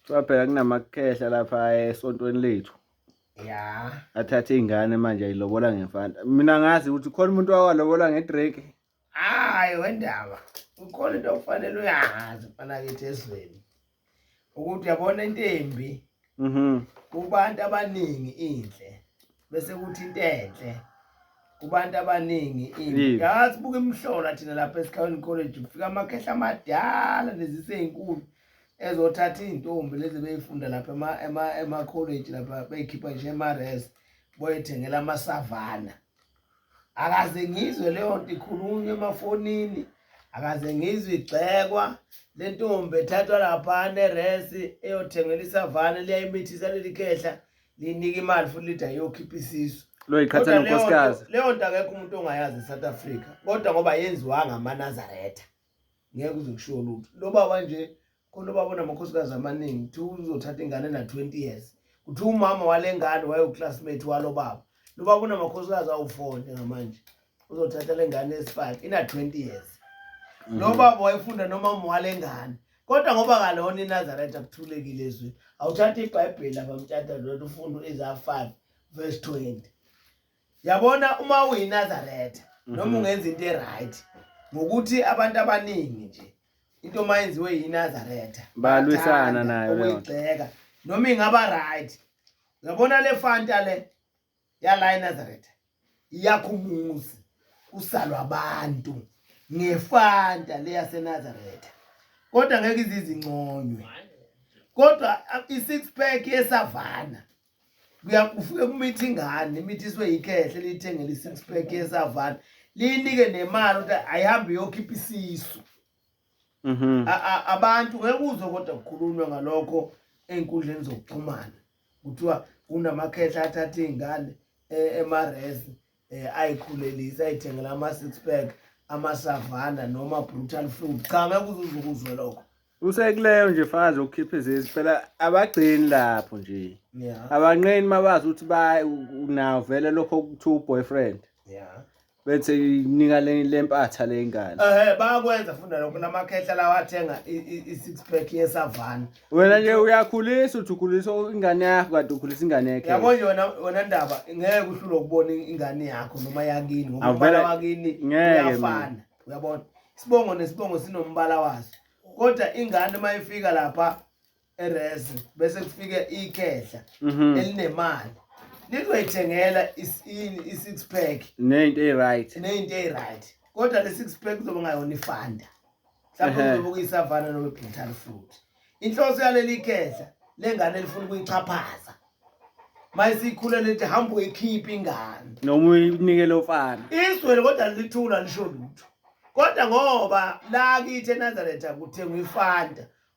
Kuthiwa phela kunamakhehla lapha esontweni lethu. Ya. Athathe ingane manje ayilobola ngemfana. Mina ngazi ukuthi khona umuntu owalobola ngedrake. Hayi wendaba. Ukhona into okufanele uyazi mfana kithi ezweni. Ukuthi yabona intembi. Mhm. Kubantu abaningi inhle. Bese kuthi into enhle. kubantu abaningi ini yazi buka imhlola thina lapha esikhawini college kufika amakhehla amadala nezise ezinkulu ezothatha iy'ntombi lezi beyifunda lapha ema-college lapha beyikhipha nje ema-res boyethengela amasavana akaze ngizwe leyo nto ikhulunywa emafonini akaze ngizwe igxekwa le ntombi ethathwa lapha ne-res eyothengela isavana liyayimithisa leli khehla liyinika imali futhi lithi ayokhipha isisu loyiqhathana unkosikazi leyo nto akekho umuntu ongayazi e-south africa kodwa ngoba yenziwa ngamanazaretha ngeke uze kushiwo lutho lo baba nje khona ubaba onamakhosikazi amaningi kuthiwa uzothatha ingane na-twenty years kuthiwa umama wale ngane wayewuclassmate walo baba lo baba unamakhosikazi awu-four njengamanje uzothatha le ngane esi-five ina-twenty years lo mhm. baba wayefunda nomama wale ngane kodwa ngoba kalona inazaretha akuthulekile ezweni awuthatha ibhayibheli abamtshata lona ufunde u-isaya five verse twenty yabona uma uyinazaretha mhm. noma ungenza into eright ngokuthi abantu abaningi nje into uma yenziwe yinazaretha balwisana nayo ukuyigxeka noma ingaba right yabona le fanta le yala inazaretha iyakho umuzi kusalwa abantu ngefanta le yasenazaretha kodwa ngeke izizinconywe kodwa i-six pack yesavana ufike kumithi ingane imithi iswe yikhehle liyithengele i-six pack yesavana liyinike nemali ukuthi ayihambe iyokhipha isisu mhm. abantu ngeke uzwe kodwa kukhulunywa ngalokho ey'nkundleni zokuxhumana kuthiwa kunamakhehla athatha iy'ngane e, emaresi eh ayikhulelisa ayithengela ama six pack ama savanda noma brutal food cha ngeke uzuzukuzwe lokho usekuleyo nje fazi ukukhipha izizi phela abagcini lapho nje abanqeni mabazi ukuthi ba nawo vele lokho kuthiwa uboyfriend yeah bethe nika lempatha lengane ehe bayakwenza funda lokho namakhehla lawa athenga i-six pack yesavana wena nje uyakhulisa uthi ukhulisa ingane yakho kade ukhulisa ingane yakhe yabo nje wena wena ndaba ngeke uhlule ukubona ingane yakho noma yakini ngoba umbala wakini uyafana uyabona isibongo nesibongo sinombala waso kodwa ingane uma ifika lapha erezi bese kufike ikhehla mhm. elinemali lizoyithengela i-six pack neyinto eyi-right neyinto eyi-right kodwa le-six pack kuzoba ngayona ifanda mhlawumbe Ehhe. uzobuka isavana noma ibhuthani futhi inhloso yaleli khehla lengane elifuna ukuyixhaphaza ma isikhule lithi hamba uyikhiphe ingane noma uyinikele ofana iswele kodwa lithula lisho lutho kodwa ngoba lakithi enazaretha kuthengwa ifanta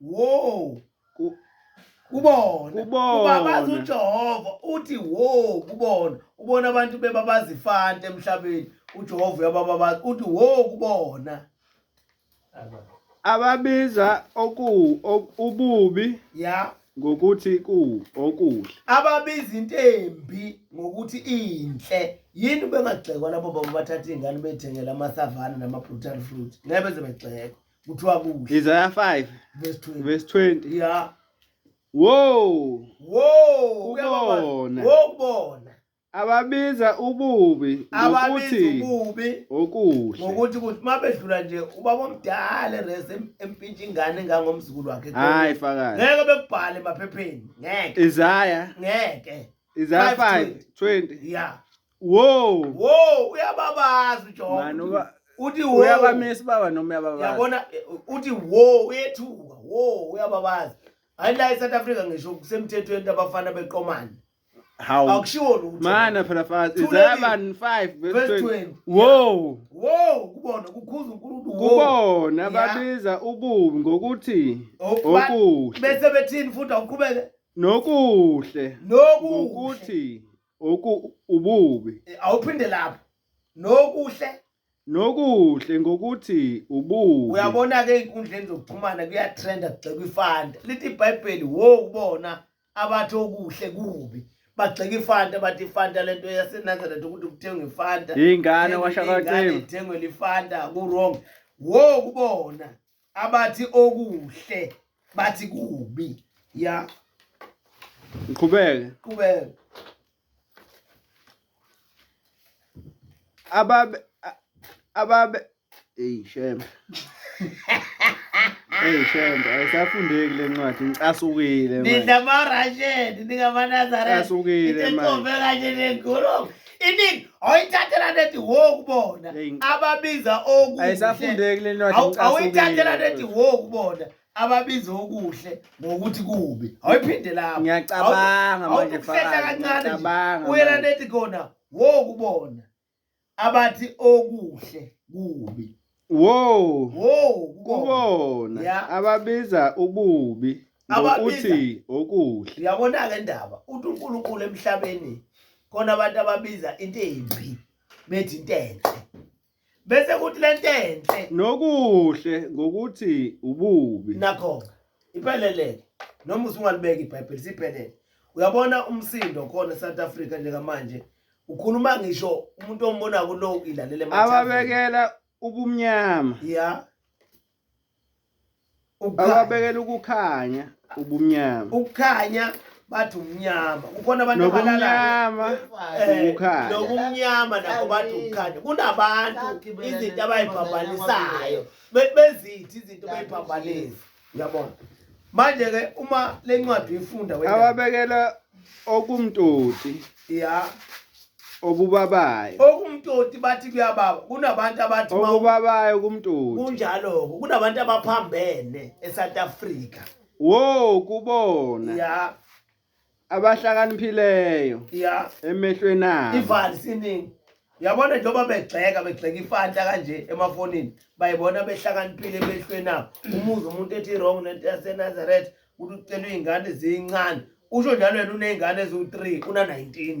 wo kubona ubabaza uJehova uthi wo kubona ubona abantu bebabaza ifanta emhlabeni uJehova uyabababaza uthi wo kubona ababiza oku ububi ya ngokuthi ku okuhle ababiza into embi ngokuthi inhle yini bengagxekwa labo baba bathatha izingane bethengela amasavana nama brutal fruit ngeke beze begxekwa kuthiwa kuhle Isaiah 5 verse 20 verse 20 yeah Whoa! Whoa! Ubona. Ubona. Ababiza ububi ngokuthi ububi okuhle. Ngokuthi ukuthi mabedlula nje ubaba omdala res empintsha ingane engangomzukulu wakhe. Hayi fakazi. Ngeke bekubhale emaphepheni. Ngeke. Isaya. Ngeke. Isaya 5:20. Yeah. Wow. Wow, uyababaza uJohn. Mani uba uthi wo. Uyabamisa baba noma uyababaza. Yabona uthi wo uyethuka. Wo uyababaza. Hayi la eSouth Africa ngisho kusemthethweni abafana beqomana. Hawu. Akushiwo lutho. Mana phela fazi izaba 5 verse 20. Wow. Wow kubona kukhuza uNkulunkulu. Kubona babiza ububi ngokuthi okuhle. Bese bethini futhi awuqhubeke. Nokuhle. Nokuhle. Ukuthi oku ububi Eh, awuphinde lapho nokuhle nokuhle ngokuthi ububi uyabona-ke ey'nkundleni zokuxhumana kuyatrenda kugxekwa ifanta lithi ibhayibheli wo kubona abathi okuhle kubi bagxeka ifanta bathi ifanta le nto yasenazaretha ukuthi kuthengwe ifanta Ingane Ithengwe washaka ingane, cima. ithengwe lifanta ku-wrong wo kubona abathi okuhle bathi kubi ya ngiqhubeke qhubeke ababe ababe hey shem hey shem ayisafundeki le ncwadi ngicasukile manje nidla marasheni ningamanazareth ngicasukile manje kanje nengolo iningi awuyithathela nethi wo kubona ababiza okuawuyithathela nethi wo kubona ababiza okuhle ngokuthi kubi awuyiphinde lapho ngiyacabanga manje kancane uyela nethi kona wo kubona abathi okuhle kubi Wow. Wow, kubona. Yeah. Ababiza ububi ngokuthi okuhle. Uyabona ke ndaba, uthi uNkulunkulu emhlabeni khona abantu ababiza into embi bethi into enhle. Bese kuthi lento enhle nokuhle ngokuthi ububi. Nakho ipheleleke. Noma usungalibeka iBhayibheli siphelele. Uyabona umsindo khona eSouth Africa njengamanje ukhuluma ngisho umuntu ombona kulo ilalele ababekela ubumnyama ya ababekela ukukhanya ubumnyama ukukhanya bathi umnyama kukhona abantu abalalama ukukhanya nokumnyama eh, nakho bathi ukukhanya kunabantu izinto abayibhabhalisayo bezithi izinto bayibhabhalisa uyabona manje ke uma lencwadi uyifunda wena awabekela okumtoti ya okubabayo okumtoti bathi kuyababa kunabantu abathi okubabayo kumtoti kunjalo kunabantu abaphambene eSouth Africa wo kubona ya abahlakaniphileyo ya emehlweni abo ivali siningi yabona njengoba begxeka begxeka ifanta kanje emafonini bayibona behlakaniphile emehlweni abo umuzi umuntu ethi wrong nento yasenazaretha ukuthi ucela iy'ngane ziyincane usho njalo yena uney'ngane eziwu-three una-nineteen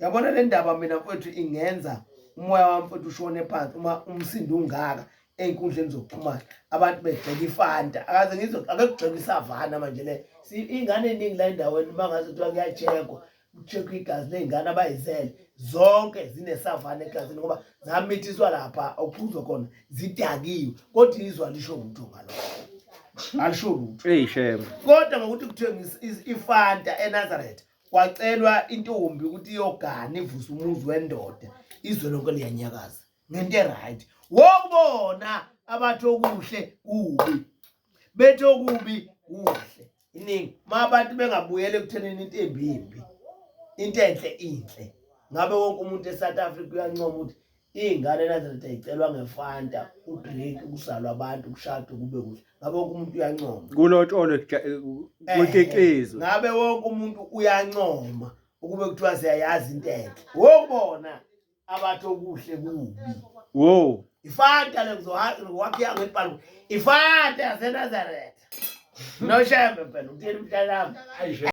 yabona le ndaba mina mfowethu ingenza umoya wami mfowethu ushone phansi uma umsindo ungaka ey'nkundleni zokuxhumana abantu begxeka ifanta akaze ngizwe akekugxeka isavana manje le iy'ngane ey'ningi la endaweni uma ngazi kuthiwa kuyajekwa kuchekhwa igazi ley'ngane abayizele zonke zinesavana egazini ngoba zamithiswa lapha okuphuzwa khona zidakiwe kodwa izwa lisho lutho ngalokho alisho lutho kodwa ngokuthi kuthiwe ifanta enazaretha kwacelwa intombi ukuthi iyogana ivuse umuzi wendoda izwe lonke liyanyakaza ngento eright wokubona abathi okuhle kubi bethi okubi kuhle iningi ma abantu bengabuyela ekuthenini into embi imbi into enhle inhle ngabe wonke umuntu e-south africa uyancoma ukuthi Iy'ngane eNazaretha yicelwa ngefanta, udrink, ukuzalwa abantu, ukushada kube kuhle. Ngabe wonke umuntu uyancoma. Kulotsholwe kucicizwe. Ngabe wonke umuntu uyancoma ukube kuthiwa siyayazi into enhle. Wobona abathi okuhle kubi. Wo. Ifanta lekuzohakhiya ngebhalu. Ifanta yaseNazaretha. Noshembe phela, uthini mntanami?